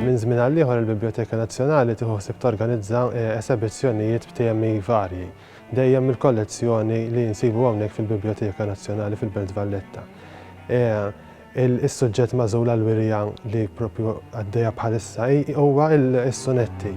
Minn żmien għal ieħor il-Bibljoteka Nazzjonali tieħu ħsieb torganizza esebizzjonijiet b'temi varji. Dejjem mill-kollezzjoni li nsibu hawnhekk fil-Bibljoteka Nazzjonali fil-Belt Valletta. Is-suġġett magħżul għall-wirja li proprju għaddejja bħalissa huwa s-sunetti.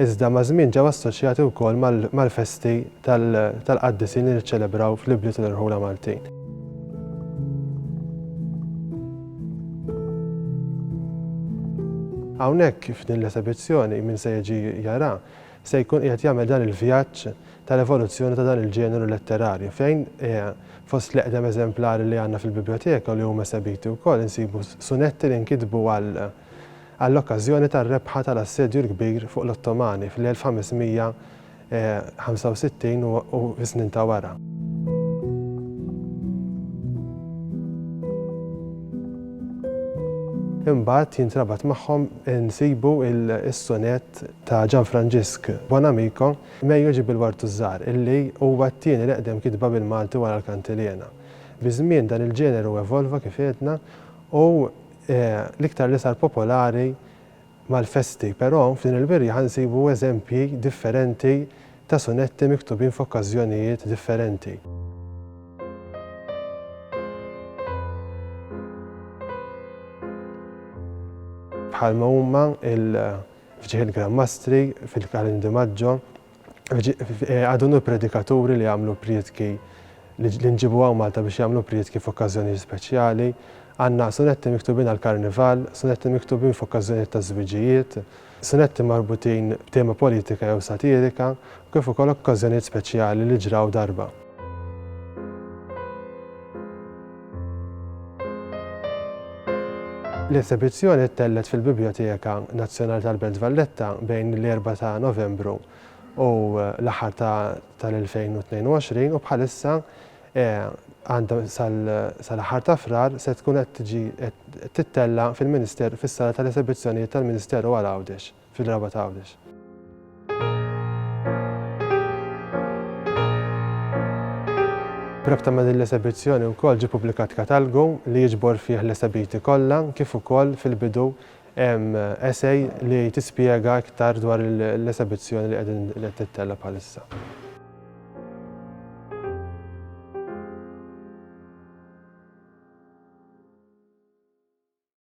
iżda maż-żmien ġew assoċjati wkoll mal-festi tal-qaddisin li niċċelebraw fl-ibliet u l-irħula Maltin. Hawnhekk, f'din l-esebizzjoni, min se jiġi jara, se jkun qiegħed jagħmel dan il-vjaġġ tal-evoluzzjoni ta' dan il-ġeneru letterarju, fejn fost l-eqdem eżemplari li għandna fil-bibljoteka u li huma esebiti wkoll insibu sunetti li nkitbu għal għall-okkażjoni tar-rebħa tal-assedju l-kbir fuq l-Ottomani fl-1565 u fis-snin ta' wara. Imbagħad jintrabat magħhom insibu s-sunett ta' Ġanfranġisk Bonamico, Mejju ġib il-wartu ż-żgħar, illi huwa t-tieni l-eqdem kitba bil-Malti wara l-Kantiljena. Biż-żmien dan il-ġeneru evolva kif għedna u l-iktar li sar popolari mal-festi, però f'din il-wirjaħa nsibu eżempji differenti ta' sunetti miktubin f'okkażjonijiet differenti. bħalma huma l-fġieħ il-Gran Mastri fil-Carin di Maggio, Għadun hu l-predikaturi li jagħmlu priedki li nġibu hawn Malta biex jagħmlu priedki f'okkażjonijiet speċjali. Għandna sunetti miktubin għall-Karnival, sunetti miktubin f'okkażjonijiet ta' żwiġijiet, sunetti marbutin b'tema politika jew satirika, kif ukoll okkażjonijiet speċjali li ġraw darba. L-esebizzjoni ttellgħet fil-Bibljoteka Nazzjonali tal-Belt Valletta bejn l-4 ta' Novembru u l-aħħar tal-2022 u bħalissa għandha sal-aħħar ta' Frar se tkun qed tiġi tittella' fil-Ministeru fis-Sala tal-Esebizzjonijiet tal-Ministeru għal Għawdex. fil-Rabat Għawdex. B'rabta ma' din l-esebizzjoni wkoll ġie pubblikat katalgu li jiġbor fih l-esebiti kollha kif ukoll fil-bidu hemm essay li tispjega iktar dwar l-esebizzjoni li qegħdin li qed tittella' bħalissa.